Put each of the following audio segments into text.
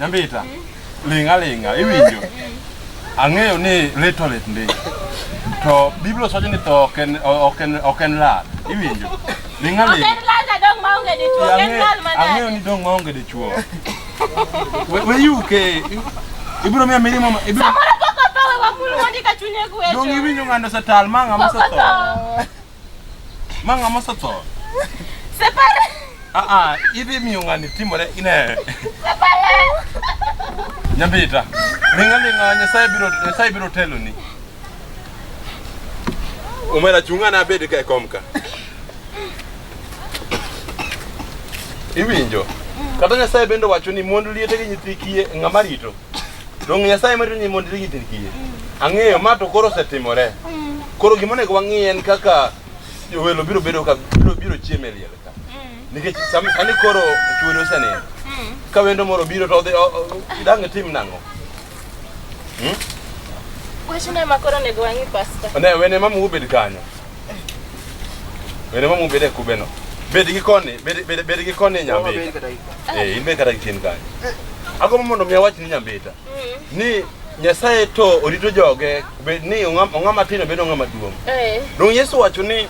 Nyambita, linga linga, iwinjo. Ang'eyo ni little lit ndi. To Biblia osacho ni tho ok en ok en ok en lal. Iwinjo? Linga Ok linga. en lal na dong maonge dichuo, ok en lal manade. Ang'eyo ni dong maonge dichuo. We we yuke. Ibiro miya mirimo ma- ibiro Samoro pok otho we wakul mondi ka chunye gwecho. dong iwinjo ng'ando setal ma ng'ama Pok osetho. otho. Manga mosotso. Separa. Ah ah, ibi miungani timore ine. Separa. Nyambita. Linga linga nyasaye biro nyasaye biro telo ni. Umela chungana abedi ka komka. Iwinjo. Kata nyasaye bende wacho ni mond liete gi nyithi kiye ng'ama rito. Donge Nyasaye marito ni mondo irigi nyithindi kiye? Ang'eyo ma to koro osetimore. Koro gima onego wang'i en kaka jowelo biro bedo ka biro biro chiemo e liel ka. Nikech sam- sani koro chuori osenindo. Ka wendo moro biro to odhi o- o- idang' itim nang'o? Wachno ema koro onego wang'i pasta. Ne wene mama ubed kanyo. Wene mamu bede kubeno. Bed gi koni, bed bed bed gi koni nyambi. Eh, in be kata gitin kanyo. Ago mondo mi awach ni nyambita. Ni Nyasaye to orito joge bed ni ong'ama ong'ama tin bed ong'ama duong'. Eh. Dong Yesu wacho ni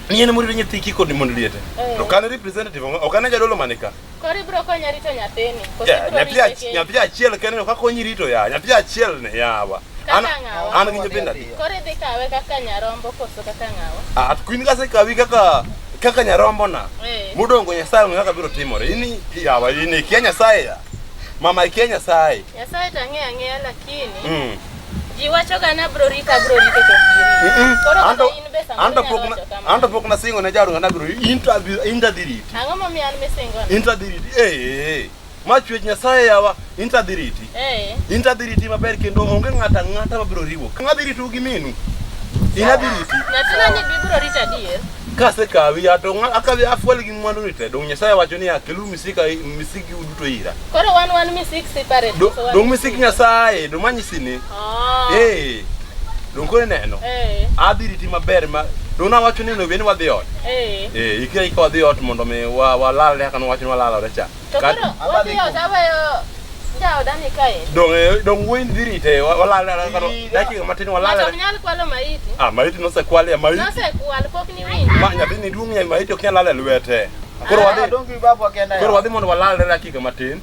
ni en murito nyithi kiko ni mondo liete. To kan representative ok an jadolo manika. Koro ibiro konya rito nyathini. Koso Yeah, ibiro nyathi rite ach- kendo. nyathi achiel kende no kaka onyi rito ya nyathi achiel ne yawa an Kaka ng'awa. an gi nyithindo adi Koro idhi kawe kaka nyarombo koso kaka ng'awa. Ah, at kuin kase kawi kaka kaka nyarombo na Eh. mudongo nyasaye ng'e kaka biro timore ini yawa ini ikia nyasaye ya mama ikia nyasaye Nyasaye to ang'eyo ang'eya lakini mm. Ji wachoga ni abro rito, abro rito to giri. Koro An to- kata in be samoro an to inyalo pok na- wacho kamano. an to pok nasingo ne jaruo na biro in to adhi- in to adhi riti Ang'o momiyo an misingona? in to adhi riti ee ma chwech nyasaye yawa in to adhi riti Eh, in to adhi riti maber kendo onge ng'ato ang'ata ma biro riwo ka adhi ritou gi minu in adhi riti nyathina ni bibro rito adier. kasekawi ato akawi afuel gi mwandu ni te dong nyasaye wacho ni akelu misika misiki udu to ira. Koro wan wan misik separate. Do, so dong misik Nyasaye, dong manyisi ni. Oh. Eh. Dong kore neno. Eh. Adhi riti maber ma dong na wacho ni nobe ni wadhi ot. Eh. Eh, ikira ikawa dhi ot mondo mi wa walal ne kan wacho ni walal ore cha. To koro wadhi ot abayo jaoda ni kae. Dong eh, dong wuoyi dhi rite walal ne kan dakika matin walal. Wacho nyal kwalo maiti. Ah, maiti nosekwal ya maiti. Nosekwal pok ni winjo. Ma nyathi ni duong' ya maiti ok nyal lal e lwete. Koro wadhi Ah, dongi babu akenda. koro wadhi mondo walalre dakika matin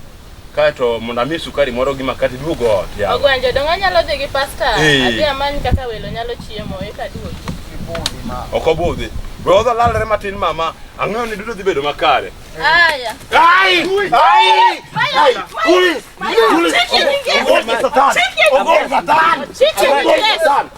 kaeto mondo amie sukari moro gi makati duogo ot yawa. Ogwen jodongo anyalo dhi gi pasta. Eh. Adhi amany kaka welo nyalo chiemo eka duogi. Kibudi ma. Ok obudhi. We wadhi walalre matin mama. Ang'eyo ni duto dhi bedo makare. Aya. Ai! Ai! Ai! Kuli! Kuli! Ogopa satan! Ogopa satan! Chicken, yes.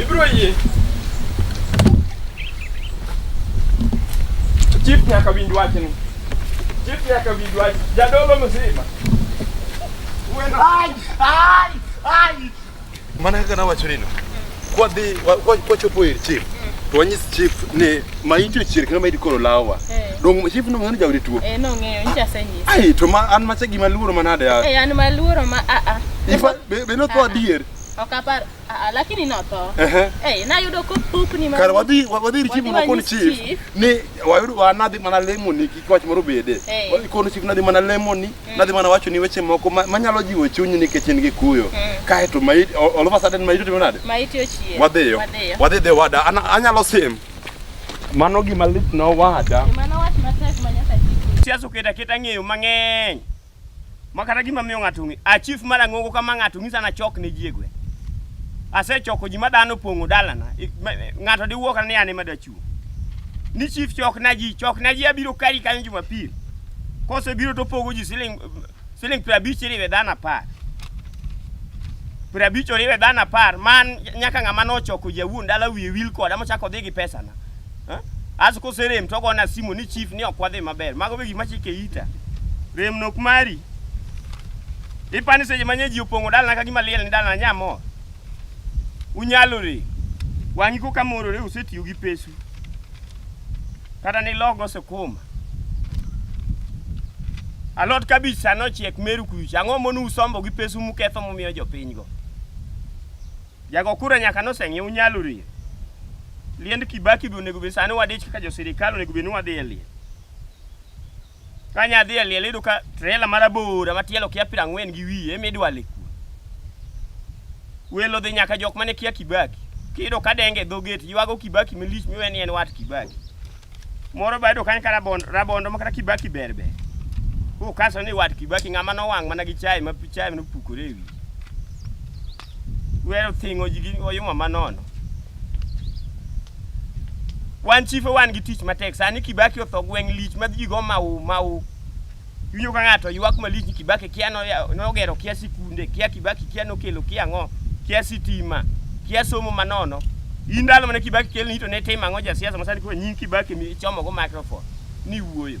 Ibiro yie. Chief nyaka winj wachni. Chief nyaka winj wach. Jadolo mzima. Wendo. Ai, ai, ai. Mana kaka nawacho nino. Kwa dhi kwa chopo ir chief. To wanyis chief ni maiti ochier kendo maiti koro lawa. Eh. Dong chief no ng'ani jawri tuo. Eh no ng'eyo ncha senyis. Ai to ma an macha gima luoro manade ya. Eh an maluoro ma a a. Ifa be no to adier. Ok apar. Ah, ah, lakini notho. Ehe. Eh, nayudo kopukni ma. Kar wadhi wa- wadhi ir chief Wadhi makoni wanyis chief chief. ni wayudo wanadhi mana lemoni kik wach moro bede. Eh. Wadhi kono chief nadhi mana lemoni, nadhi mana wacho ni weche moko ma- manyalo jiwo chunyi nikech in gi kuyo. Mm. Kae to mai all all of a sudden mai timo nade? Ma iti ochie. Wadhiyo. Wadhiyo. Wadhi dhi wada. Ana- Anyalo sim. Mano gima lit na wada. Mano wach matek ma nyaka chiki. Siasa oketo aketa ng'eyo mang'eny. Ma kata gima miyo ng'ato ng'e, a chief mar Ang'ongo kama ng'ato ng'isa na chok ne ji e gweng'. Asechoko ji ma dhano pong'o dalana. I- ma- eh, Ng'ato diwuo kata ni an ema dachiwo. Ni chief chok na ji, chok na ji abiro kari kanyo Jumapil. Kose biro to pogo ji siling siling piero abich iriwe dhano apar. Piero abich oriwe dhano apar, man nyaka ng'ama nochoko jawuon dala wiye wil koda mochako odhi gi pesana. As koserem to ogona simu ni chief ni ok wadhi maber. Mago be gima chike ita. Rem nok mari. Ipani seche manye ji opong'o dalana ka gima liel ni dalana nyamo. Unyalore. Wang'i koka morore usetiyo gi pesu. Kata ni logo sukuma. Alot kabich sano chiek meru kucha. Ang'o monu usombo gi pesu muketho mumiyo jopinygo. Jago kura nyaka noseng'iew nyalo rie. Liend Kibaki be onego bed sani wadich kaka josirikal onego bed ni wadhi e liel. Ka nya dhi e liel iyudo ka trela mar abora ma tielo kia piero ang'wen gi wiye ema idwale kuno. Welo dhi nyaka jok mane kia Kibaki. Kiyudo ka denge e dho gate ywago Kibaki malich miwe ni en wat Kibaki. Moro ba yudo kanyo ka rabondo, rabondo ma kata Kibaki ber ber. Kukaso ni wat Kibaki ng'ama nowang' mana gi chai ma chai nopukore e wiye. Wero thingo ji gi oyuma manono. Wan chife wan gi tich matek. Sani Kibaki otho gweng' lich ma ji go mau mau. Iwinjo ka ng'ato ywak malich ni Kibaki kia no- ya- nogero kia sikunde, kia Kibaki kia nokelo kia ang'o, kia sitima, kia somo manono. In ndalo mane Kibaki kelni to ne tim ang'o jasiasa ma sani koro nying Kibaki mi ichomogo microphone ni wuoyo.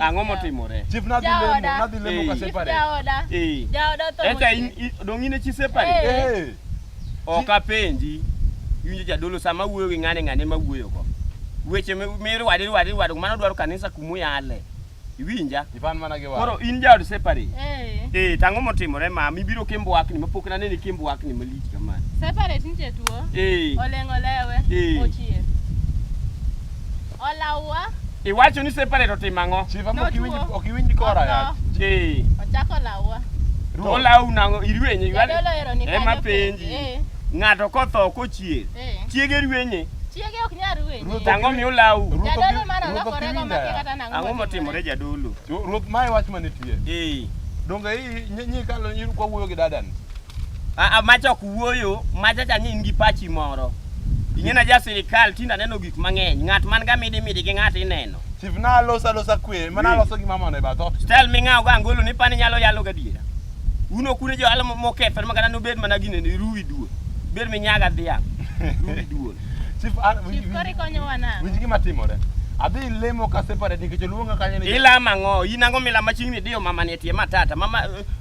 Ang'o motimore? Chief nadhi lemo, Jaoda. nadhi lemo ka Chief separate. Jaoda. Eh. Jaoda otho Eka motieno. in- i- dong' in e chi separate? Eh. Eh. Ok apenji. Iwinjo jadolo sama wuoyo gi ng'ane ng'ane ma wuoyogo. Weche mi- mirwade rwade rwade mano dwaro kanisa kuma uyale. Iwinja? Ipan mana gi Koro wach. in jaod separate. Eh. Eh, tang'o motimore ma mibiro kimbwakni mapok nanene kimbwakni malich kamano. Separate nitie tuo. Eh. Oleng' olewe. Eh. Ochier. Olawa. Iwacho ni separate otimo ang'o? Chief ama ok iwinj ok iwinj kora ya. Ee. Ochako lawa. To olawu nang'o irwenye iwale. Jadolo ero ni Ema penji. Eh. Ng'ato kotho kochier. Eh. Chiege rwenye. Chiege ok nyal rwenye. Tang'o mi olawu. Jadolo mara lokore go ma kata nang'o. Ang'o motimore jadolo? Ruoth mae wach manitie. Ee. Donge i nyi kalo nyi kwa wuoyo gi dadani. Ah, ah macha ok wuoyo, macha cha ni in gi pachi moro. Ing'ena ja sirikal tinda neno gik mang'eny. Ng'at man ga midi midi gi ng'at ineno. Chief na alosa losa kwe, mana aloso gima mondo e bath ot. Stel ming'aw ga angolo ni pani nyalo yalo ga diera. Uno kune jo alamo moketho ma kata nobed mana gine ni ruwi duo. Bed mi nyaga dhiang. Ruwi duo. Chief, ah, winj- Chief kori winj- konyowa nang'o? winj gima timore. Adhi lemo ka separate nikech oluonga kanyo ni Ilama ng'o? In ang'o milama chiegni diyo mama ni e tie matata. Mama eh,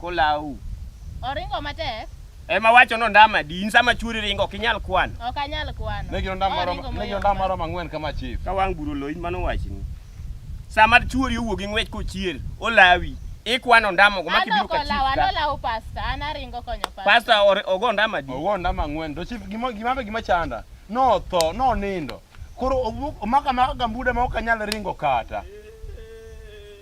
Kolau. Oringo matek. Ema wacho no ndama di in sama churi ringo ok inyal kwano. Ok anyal kwano. Ne giro ndama moro, ne giro ndama moro mang'wen kama chief. Ka wang' buro loin mano wachni. Sama churi owuok gi ng'wech kochier, olawi. Ikwano ndama go maki biro ka chief. Ano kola, ano pasta, ana ringo konyo pasta. Pasta ogo ndama di. Ogo ndama ng'wen. To chief gima gima gima chanda. No tho, no nindo. Koro omaka maka gambuda ma ok anyal ringo kata.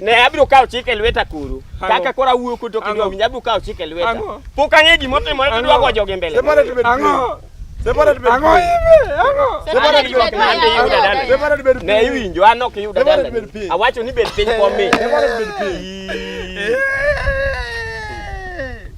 ne abiro kawo chik e lweta kuru kaka koro awuoyo kuto kendo winja abiro kawo chik e lweta pok ang'e gima otimore to dwa gojo gi mbele ne iwinjo an ok iyuda dalani awacho ni bed piny komi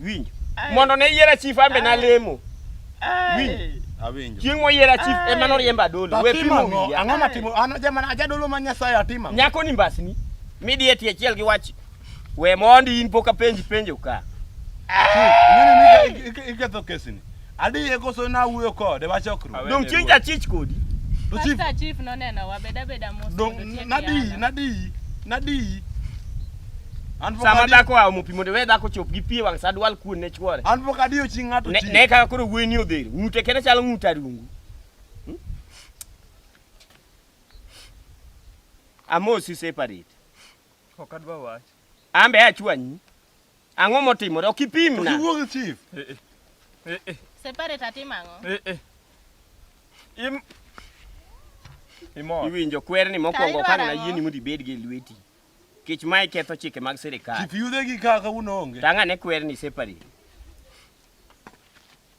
Winj. Mondo ne yiera chief ambe na lemo. Winj. Awinjo. Chieng' moyiera chief ema noriemba dolo. We pimo wiya. Ang'o matimo? An jamana ajadolo ma Nyasaye atimo. Nyako ni mbasni. Midi eti achiel gi wach. We mondi in poka penji penjo ka. Chief, nini ni iketho kesini? Adiye koso na wuyo kode wa chokruok. Dong chieng' jachich kodi. To chief. Pastor chief noneno wa beda beda mos. Dong nadi nadi nadi. Sama dhako wa omo pi mondo we dhako chop gi pi e wang' sa dwal kuon ne chwore. An pok adiyo chi ng'ato chi. Ne kaka koro wueni odhero. Ng'ute kene chalo ng'ut arungu. Hmm? Amosi separate. Ok adwa wach. Ambe achwanyi. Ang'o motimore? Ok ipimna. Iwuo gi chief. Eh, eh. Eh, eh. Separate atim ang'o? Eh, eh. Im Imor. Iwinjo kwerni mokwongo kane na yieni mondo ibed gi lweti. Kech mae ketho chike mag sirikal. Chief yude gi kaka uno onge. Tanga ne kwerni separate.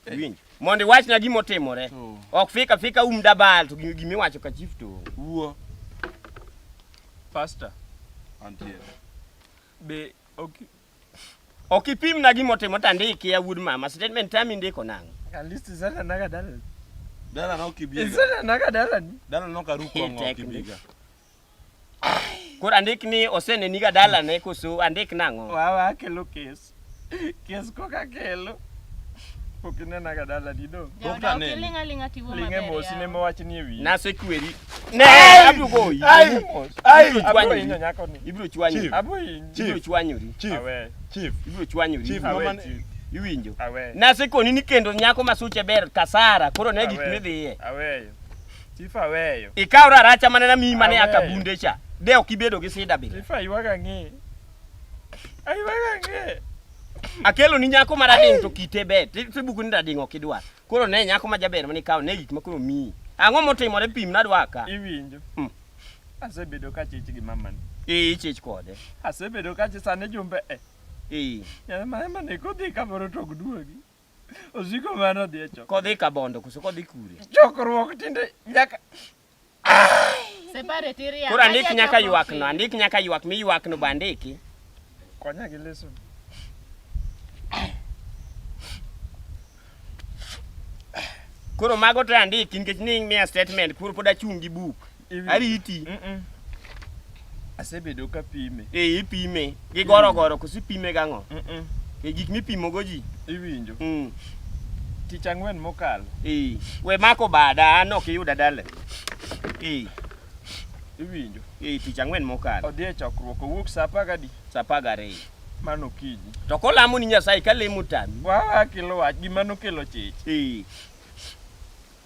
Eh. Iwinjo. Mondo iwachna gima otimore. Oh. Ok fika fika um dabal to gima iwacho ka chief to. Wuo. Pastor. Antie. Be Okay. Ok ipim na gima otimo to andiki ya wuod mama. Statement tami ndiko nang'o? At least zana naga dalani. Dala na ukibiga. Zana naga dalani. Dala na ukaruko ng'o ukibiga. Koro andik ni oseneniga dalane koso andik nang'o? Wawa akelo kes. Kes koka kelo. Pok inenaga dalani do. Pok aneno. Ling'e mosi ne mowachni e wiye. Nasekweri. Ne, abiro goyi. Ai, ai, Ibiro abro chwanyori. inyo nyako ni. Ibiro chwanyori. Chief. Abro inyo. Chief. Ibiro chwanyori. Chief, Awe, chief, Ibiro chwanyori. chief, Awe, mama, chief. Iwinjo. Awe. Nasekoni ni kendo nyako ma suche ber kasara, koro ne gik Awe. midhiye. Aweyo. Chief aweyo. Ikaw raracha mane namiyi mane Aweyo. akabunde cha. De ok ibedo gi sida bila. Chief aywaga ang'e. Aywaga ang'e. Akelo ni nyako marading to kite ber. Ti- Tibuku ni rading ok idwar. Koro ne nyako ma jaber mane ikawo ne gik ma koro miyi. Ang'o motimore pim nadwa ka? Iwinjo? Mm. Asebedo ka chich gi mamani. Ee, ichich kode. Asebedo ka chich sani jumbe e. Ee. Nyana ma ema ne kodhi ka moro to gduogi. Osiko mano dhi e chokruok. Kodhi ka bondo koso kodhi kure? Chokruok tinde nyaka Koro andik nyaka ywak no, andik nyaka ywak mi ywak no bandiki. Konya gi leso. Koro mago to andiki nikech ni miya statement, koro pod achung' gi buk. Ariti. Mm -mm. Asebedo ka pime. Eh, ipime. Gi goro goro kosi pime gang'o? Mm -mm. E gik mipimo go ji. Iwinjo. Mm. Tich ang'wen mokalo. Eh, we mako bada an ok iyuda dale. Eh. Iwinjo. Eh, tich ang'wen mokalo. Odhi e chokruok owuok saa apar gadi. Saa apar gariyo. Mano kiji. To kolamo ni Nyasaye ka lemo tami. Wawa kilo wach gima nokelo chich. Eh.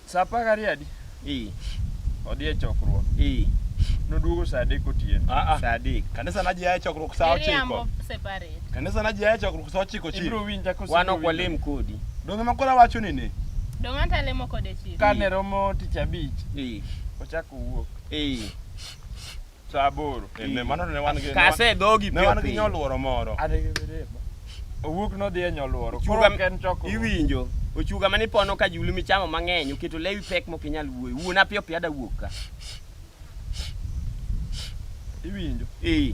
Sa apar gariyo adi? Ee. Odhi e chokruok. Ee. Noduogo sa adek otieno. Ah, ah. Sa adek. Kanisa na ji aye chokruok sa ochiko. Miriambo separate. Kanisa na ji aye chokruok sa ochiko chief. Ibiro winja kose Wan ok ibiro winja. walem kodi. Donge makoro awacho ni ne. Donge anta lemo kode chief. Kane romo tich abich, Ee. ochako wuok. Ee. Sa aboro. Eh, ne- mano ne wan gi- Kase dhogi ne piyo wan gi piyo. nyoluoro moro. Owuok nodhi e nyoluoro. Koro Ochuga ok en chokruok. iwinjo. Ochuga mane ipono ka julu michamo mang'eny oketo lewi pek mok inyal wuoyo. Wuona piyo piyo ada wuok ka. Iwinjo. Eh.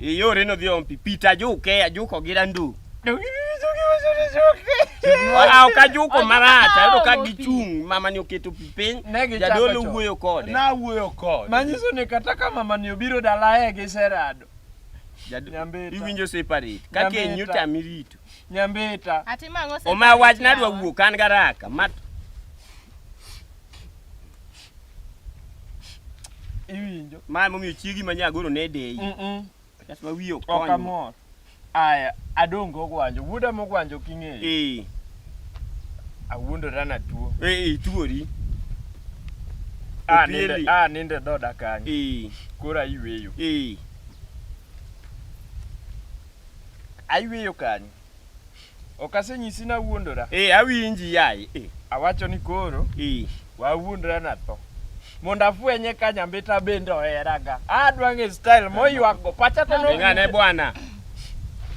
Iyore no dhio mpi pita juke ajuko gi randu. Wala okajuko marach ayudo ka gichung' mama ni oketo pi piny Ne gichako jadolo chon. wuoyo kode. Na wuoyo kode. Manyiso ni kata ka mama ni obiro dala e gi serado. Jado- Nyambita. Iwinjo separate. Ka Nyambita. keny otami rito. Nyambita. Ati mang'o Oma wach nadwa wuok an garaka. Mat iwinjo mae momiyo chiegi ma nyagoro ne deyi mm -mm. That's why we ok amor aya adongo ogwanjo wuoda mogwanjo king'eyo eh awuondora na tuo eh, eh tuori a ninde dhoda kanyo eh. koro ayweyo eh. ayweyo kanyo Ok asenyisi nawuondora. Ee, eh, awinji yaye. Eh. Awacho ni koro. Ee. Eh. Wawuondra na tho. Mondo afwenye ka nyambita bende oheraga. Adwa ng'e style moywak go. Pacha to no. Ng'ane bwana.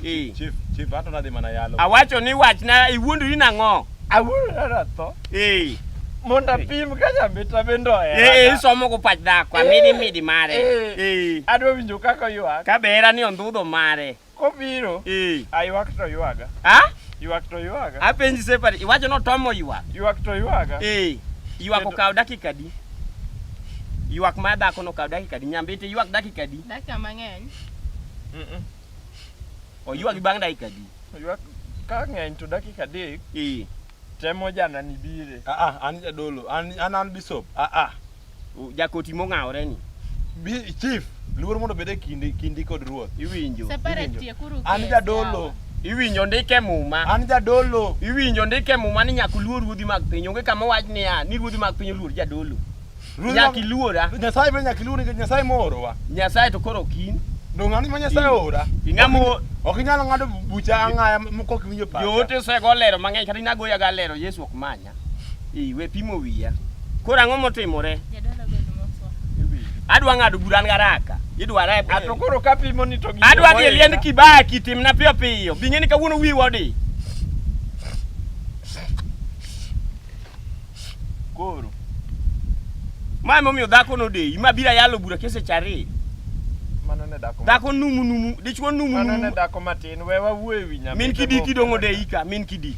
Ee. Chief, chief ato nadhi mana yalo. Awacho ni wachna iwuondori nang'o? Awuondra na tho. Ee. Mondo apim ka nyambita bende oheraga. Ee, isomo go pach dhako. Amidi midi mare. Ee. Adwa winjo kaka oywak. Ka behera ni ondhudho mare. Kobiro. Eh. Aywak to ywaga. Ha? Ywak to ywaga. Apenji separate. Iwacho notomo ywak. Ywak to ywaga. Eh. Ywak Kendo- okawo dakika adi? Ywak ma dhako nokawo dakika adi? Nyambete ywak dakika adi? Dakika mang'eny. Mm-mm. Oywagi bang' dakika adi? Ywak ka ng'eny to dakika adek Eh. temo janani bire. Ah ah, an jadolo, an an an bishop. Ah ah. Jakoti mong'awore ni. Bi- Chief, luor mondo obed e kindi kindi kod ruoth. Iwinjo. Separate tie kuru An case jadolo, yawa. Iwinjo ndike muma. an jadolo. Iwinjo ndike muma ni nyaka uluor ruodhi mag piny. Onge kama wach niya ni ruodhi mag piny oluor jadolo. Ruodhi Nyaka mag- iluora. Nyasaye be nyaka iluor nikech Nyasaye moorowa. Nyasaye to koro kin. Donge an ma Nyasaye oora? Ing'amo Ok inyal ng'ado bucha ang'aya m- kok iwinjo pacha. joote osego lero mang'eny kata inagoya ga lero Yesu ok many. Ii, we pimo wiya. Koro ang'o motimore? Adwa ng'ado bura an garaka. Idwa rep. A to koro ka pimo ni to gi. Adwa dhi e liend Kibaki timna piyo piyo. Bing'e ni kawuono wiwa odi. Koro. Ma emomiyo dhako nodeyi, ma bira yalo bura keseche ariyo. Mano ne dhako. Dhako numu numu, dichwo numu numu. Mano ne dhako matin, we wawuo e wi nyamin. Min kidiki dong' odeyi ka, min kidiki.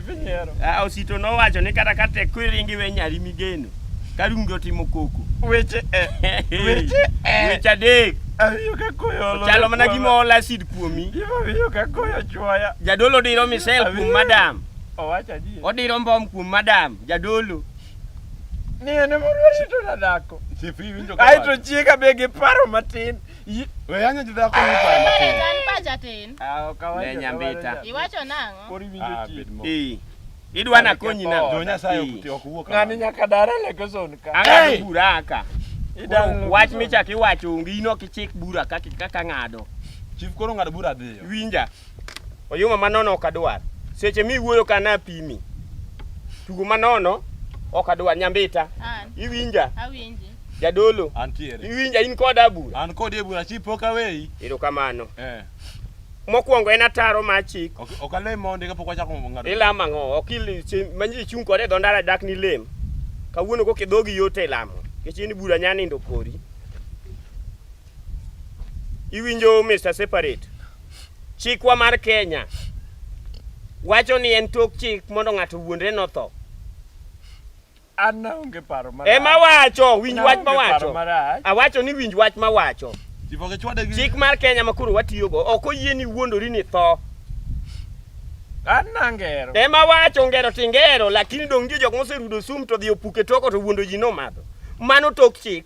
Nyiero. Ah, Osito nowacho ni kata ka tek kwiringi we nyari migeno. Karungi otimo koko. Weche eh. Weche eh. Weche adek. Awiyo ka koyo olo. Chalo mana gima ol acid kuomi. Gima wiyo ka koyo chwaya. Jadolo diro misel kuom Awiyo. madam. Owacho adier. Odiro mbom kuom madam. Jadolo. Ni en ema orito na dhako. Chief iwinjo ka. Aito chiega be gi paro matin. Yi- We yanyo jidhako ni paro matin. An pacha tin. Ah, ok awacho Ne nyambita. kamano. Iwacho nang'o? Koro iwinjo Ah, chien. bed mo- Eh. Idwa na konyi na. Jo Nyasaye ok ti- ok wuo Ng'ani kamano. nyaka dare lekeson ka. Ang'ado Hey! bura aka. Idang' Koro Wach lekeson. michak iwacho onge ino kichik bura kaka kaka ng'ado. Chief koro ng'ado bura dhiyo. Winja. Oyuma manono ok adwar. Seche miwuoyo ka napimi. Tugo manono ok adwar nyambita. An, Iwinja awinji. jadolo. Antiere. Iwinja in koda bura. An kodi e bura chief pok aweyi. Erokamano. Eh. Mokwongo en ataro ma chik. Ok ok alem ma ondiga pok wachako ng'ado. Ilamo ang'o? Ok il chi- ma ji chung' kode e dho ndara dak ni lem. Kawuono kok e dhogi yot e lamo. Nikech in bura nya nindo kori. Iwinjo Mr. Separate. Chikwa mar Kenya wacho ni en tok chik mondo ng'ato wuondre notho. An naonge paro marach. Ema wacho, winj wach ma wacho. Awacho ni winj wach ma wacho. Chik mar Kenya ma koro watiyogo ok oyie ni wuondori ni tho. An nangero. Ema wacho ngero tingero lakini dong' nitie jok moserudo sum to dhi opuke toko to wuondo ji nomadho. Mano tok chik.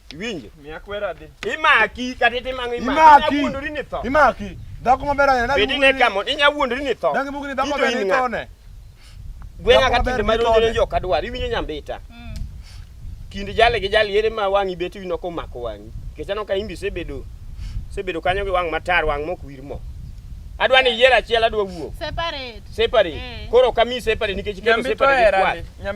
Iwinjo? Miya kwera adhi. Imaki kata itimang'o imaki. Imaki. ni tho. Imaki. Dhako maber ahinya. Bedi ne kamo inya wuondori ni tho. Dangi mugni dhako maber ni tho ne. Gweng'a ka tinde ma ronjore jo kadwar iwinjo nyambita. Mm. Kind jale gi jale yere ma wang'i beti wino ko mako wang'i. Kechano ka imbi sebedo sebedo kanyo gi wang' matar wang' mok wir mo. Adwa ni yier achiel adwa wuok. Separate. Separate. Eh. Koro kami separate nikech kero separate. Nyambito era.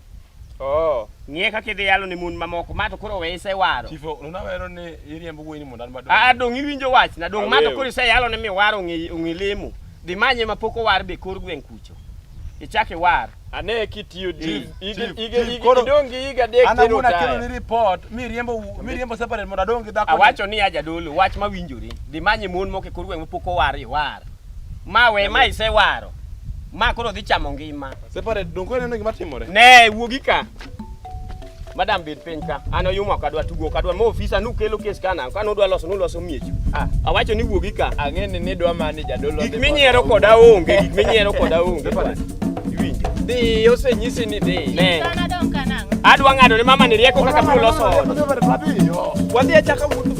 Oh. Ng'e kaka idhi yalo ne mon mamoko, ma to koro we isewaro. Chief, nuna wero ni iriembo wuoyi ni mondo an madong. Ah, dong' iwinjo wach na, dong' ma to Aweo. koro iseyalo ne miwaro ong'e ong'e lemo. Dhi manye ma pok owar be kor gweng' kucho. Ichak iwar. Ane kitiyo Chief, deal. Ige chief, ige chief, ige koro- idong' gi higa adek An tero awuon akelo ni taya. report, mi riembo wu- mi riembo separate mondo adong' gi dhako ni. Awacho ni aja dolo, wach ma winjore. Dhi manye mon moko e kor gweng' ma pok owar iwar. Ma we ma isewaro. Ma koro dhi chamo ngima. Separate donge koro ineno gima timore? Ne wuogi ka. Madam bed piny ka. An oyuma ok adwa tugo ok adwa. Ma ofisa nukelo kes kana. Ka nudwa loso nuloso miechu. Ah. Awacho ni wuogi ka. Ang'e ni nidwa mani jadolo. Gik minyiero koda onge. Gik minyiero koda onge. Separate. Iwinjo. Dhi osenyisi ni dhi. Ne. Sana dong kanang. Adwa ng'ado ne mama ni rieko kaka biro loso ot. Separate mapiyo. Wadhi achaka wuoth.